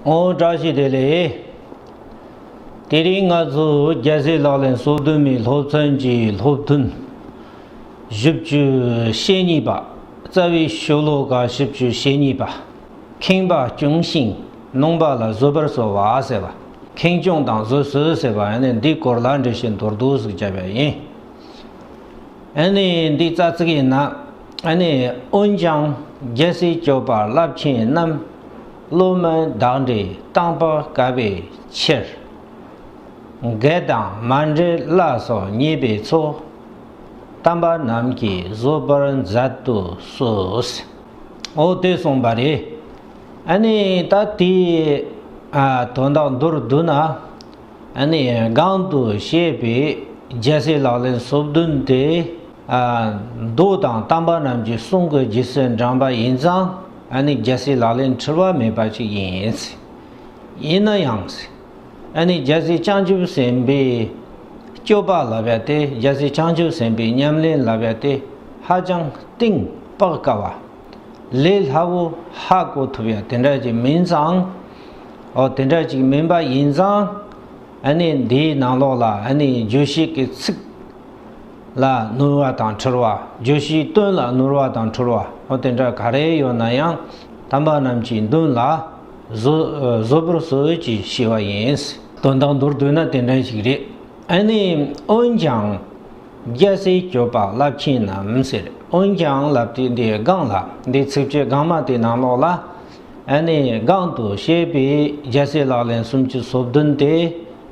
ཨོ་བཀྲ་ཤིས་བདེ་ལེགས། དེ་རིང་ང་ཚོ་རྒྱལ་སྲས་ལག་ལེན་སོ་བདུན་མའི་སློབ་ཚན་གྱི་སློབ་ཐུན་བཞི་བཅུ་ཞེ་གཉིས་པ་རྩ་བའི་ཤོ་ལོ་ཀ་བཞི་བཅུ་ཞེ་གཉིས་པ་ཁེངས་པ་བསྐྱུངས་ཤིང་ནོངས་པ་ལ་བཟོད་པར་གསོལ་བ་ཟེར་བ་ཁེངས་སྐྱུངས་དང་བཟོད་གསོལ་ཟེར་བ་ནི་འདིའི་སྐོར་ལ་འགྲེལ་བཤད་མདོར་བསྡུས་སུ་བྱས་པ་ཡིན། ཨ་ནི་འདི་རྩ་ཚིག་ཡིན་ན། ཨ་ནི་འོན་ཀྱང་རྒྱལ་སྲིད་སྐྱོབ་པར་རླབས་ཆེན་རྣམས། བློ་མོས་བདག་འདྲའི་སྟངས་པར་དཀའ་བའི་ཕྱིར། འགལ་དང་མ་འབྲེལ་བླ་སོགས་ཉེས་པའི་ཚོགས། གཏམ་པ་རྣམས་ཀྱིས་བཟོ་བར་མཛད་དུ་གསོལ། འོ་དེ་གསུངས་པ་རེད། ཨ་ནི་ད་དེའི་དོན་དག་མདོར་བསྡུ་ན། སྒང་དུ་བཤད་པའི་རྒྱལ་སྲས་ལག་ལེན་བསོད་བདུན་དེ། མདོ་དང་གཏམ་པ་རྣམས་ཀྱིས་གསུང་གི་རྗེ་བཙུན་འབྲངས་པ་ཡིན་ཙང་རྒྱལ་སྲས་ལག་ལེན་འཁྲུལ་བ་མེད་པ་ཅིག་ཡིན། ཡིན་ན་ཡང། རྒྱལ་སྲས་བྱང་ཆུབ་སེམས་དཔའི་སྐྱོབ་པ་ལབ་པ་དེ་རྒྱལ་སྲས་བྱང་ཆུབ་སེམས་དཔའི་ཉམས་ལེན་ལབ་པ་དེ་ཧ་ཅང་གཏིང་དཔག་དཀའ་བ། ལས་སླ་བོ་ཧ་གོ་ཐུབ་ཡ་དེ་འདྲ་ཅིག་མིན་ཙང། འོ་དེ་འདྲ་ཅིག་མིན་པ་ཡིན་ཙང། ཨ་ནི་འདིའི་ནང་ལོགས་ལ་ཨ་ནི་བརྗོད་གཞི་གི་ཚིག་ལ་བསྣུར་བ་དང་འཁྲུལ་བ་བརྗོད་གཞིའི་དོན་ལ་བསྣུར་བ་དང་འཁྲུལ་བ་འོ་དེ་འདྲ་ག་རེ་ཡོད་ན་ཡང་དམ་པ་རྣམས་ཀྱི་མདུན་ལ་བཟོད་པར་གསོལ་གྱིས་ཞེས་བ་ཡིན། དོན་དང་མདོར་བསྡུས་ན་དེ་འདྲ་ཞིག་རེད་ཨ་ནི་འོན་ཀྱང། རྒྱལ་སྲས་ཀྱོ་པ་རླབས་ཆེན་ནམ་ཟེར་འོན་ཀྱང་རླབས་དེ་འདི་སྒང་ལ་འདི་ཚིག་བཅད་སྒང་མ་དེ་ནང་ལོགས་ལ་ཨ་ནེ་སྒང་དུ་བཤད་པའི་རྒྱལ་སྲས་ལག་ལེན་སུམ་ཅུ་སོ་བདུན་དེ་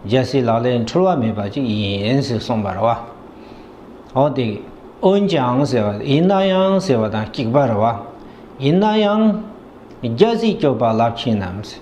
རྒྱལ་སྲས་ལག་ལེན་འཁྲུལ་བ་མེད་པ་ཅིག་ཡིན་ཟེར་གསུངས་པར་བ་འོ་དེ་འོན་ཀྱང་ཟེར་བ་ཡིན་ན་ཡང་ཟེར་བ་དང་གཅིག་པར་བ་ཡིན་ན་ཡང་རྒྱལ་སྲས་ཀྱོ་པ་རླབས་ཆེན་ནམ་ཟེར།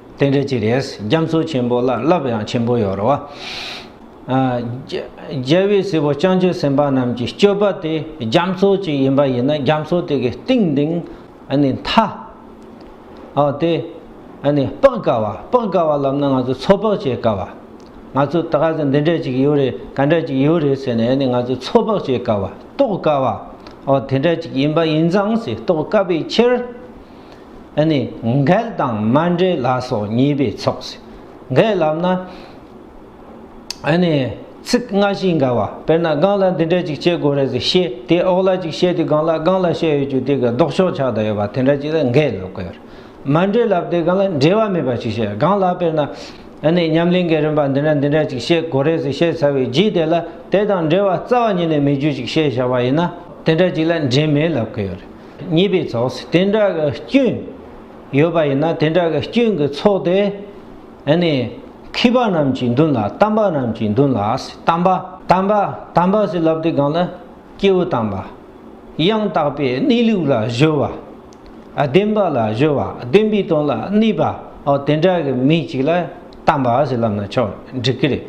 དེ་འདྲ་ཅིག་རེད། རྒྱ་མཚོ་ཆེན་པོ་ལ་རླབས་ཡང་ཆེན་པོ་ཡོད་རོ། རྒྱལ་བའི་སྲས་པོ་སྤྱང་ཀྱི་སེམས་དཔའ་རྣམས་ཀྱི་སྤྱོད་པ་དེ་རྒྱ་མཚོ་ཅིག་ཡིན་པ་ཡིན་ན་རྒྱ་མཚོ་དེ་གའི་གཏིང་འདིང་མཐའ་དེ་དཔག་དཀའ་བ་དཔག་དཀའ་བ་ལབ་ན་ང་ཚོ་ཚོད་དཔག་བྱེད་དཀའ་བ། ང་ཚོ་ད་ག་ཟེར་འདི་འདྲ་ཅིག་ཡོད་རེད་ག་འདྲ་ཅིག་ཡོད་རེད་ཟེར་ནས་ང་ཚོ་ཚོད་དཔག་བྱེད་དཀའ་བ་རྟོགས་དཀའ་བ། དེ་འདྲ་ཅིག་ཡིན་པ་ཡིན་ཙང་སྲིད་རྟོགས་དཀའ་བའི་ཕྱིར། ཨ་ནི་འགལ་དང་མ་འབྲེལ་ལ་སོགས་གཉིས་པའི་ཚོགས་སུ་འགལ་ལབ་ན། ཨ་ནི་ཚིག་སྔ་ཕྱིའི་འགལ་བ་དཔེར་ན་རྐང་ལག་འདི་འདྲ་ཅིག་བྱེད་དགོས་རེད་ཟེར་ཤེས་དེ་འོག་ལ་ཅིག་བྱེད་དེ་སྒང་ལ་རྐང་ལག་ཤད་ཡོད་ཅུག་དེ་ག་ལྡོག་ཕྱོགས་ཆགས་ད་ཡོད་པ་དེ་འདྲ་ཅིག་ལ་འགལ་ལབ་དགོས་རེད། མ་འབྲེལ་ལབ་དེ་ག་ལ་འབྲེལ་བ་མེད་པ་ཅིག་བྱེད་རྐང་ལག་དཔེར་ན། ཨ་ནི་ཉམས་ལེན་གྱི་རིམ་པ་འདི་འདྲ་འདི་འདྲ་ཅིག་བྱེད་དགོས་རེད་ཟེར་བཤད་ཚར་བའི་རྗེས་དེ་ལ་དེ་དང་འབྲེལ་བ་རྩ་བ་ཉིད་ནས་མེད་རྒྱུ་ཅིག་བཤད་བཞག་པ་ཡིན་ན་དེ་འདྲ་ཅིག་ལ་འབྲེལ་མེད་ལབ་དགོས་རེད། གཉིས་པའི་ཚོགས་སུ་དེ་འདྲ་གི་སྐྱོན་ཡོད་པ་ཡིན་ན་དེ་འདྲ་གི་སྐྱོན་གྱི་ཚོགས་དེ་ནི་མཁས་པ་རྣམས་ཀྱི་མདུན་ལ་དམ་པ་རྣམས་ཀྱི་མདུན་ལ་དམ་པ། དམ་པ་དམ་པ་ཞེས་ལབ་དེ་གང་ལ་སྐྱེས་བུ་དམ་པ་ཡང་དག་པའི་གནས་ལུགས་ལ་གཞོལ་བ། བདེན་པ་ལ་གཞོལ་བ་བདེན་པའི་དོན་ལ་གནས་པའོ་དེ་འདྲ་གི་མི་ཅིག་ལ་དམ་པ་ཞེས་ལབ་ན་ཆོག་འགྲིག་གི་རེད།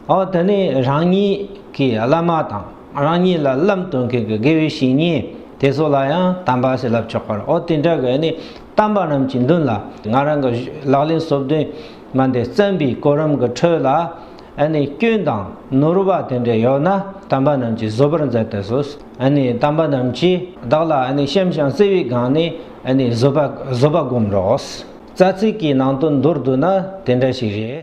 འོ་དེ་ནས་རང་ཉིད་ཀྱི་བླ་མ་དང་རང་ཉིད་ལ་བླའམ་སྟོན་མཁན་གྱི་དགེ་བའི་བཤེས་གཉེན་དེ་ཚོ་ལ་ཡང་དམ་པ་ཞེས་ལབ་ཆོག་པར་འོ་དེ་འདྲ་གི་ནི་དམ་པ་རྣམས་ཀྱི་མདུན་ལ་ང་རང་གི་ལག་ལེན་སོ་བདུན་མ་འདི་བརྩམས་པའི་གོ་རིམ་གྱི་ཁྲོད་ལ་ཨ་ནི་སྐྱོན་དང་ནོར་བ་དེ་འདྲ་ཡོད་ན་དམ་པ་རྣམས་ཀྱིས་བཟོད་པར་མཛད་དུ་གསོལ། ཨ་ནི་དམ་པ་རྣམས་ཀྱིས་བདག་ལ་ཨ་ནི་བཤམས་ཤིང་བརྩེ་བའི་སྒང་ནས་ཨ་ནི་བཟོད་པ་བསྒོམ་རོགས། རྩ་ཚིག་གི་ནང་དུ་མདོར་བསྡུ་ན་དེ་འདྲ་ཞིག་རེད།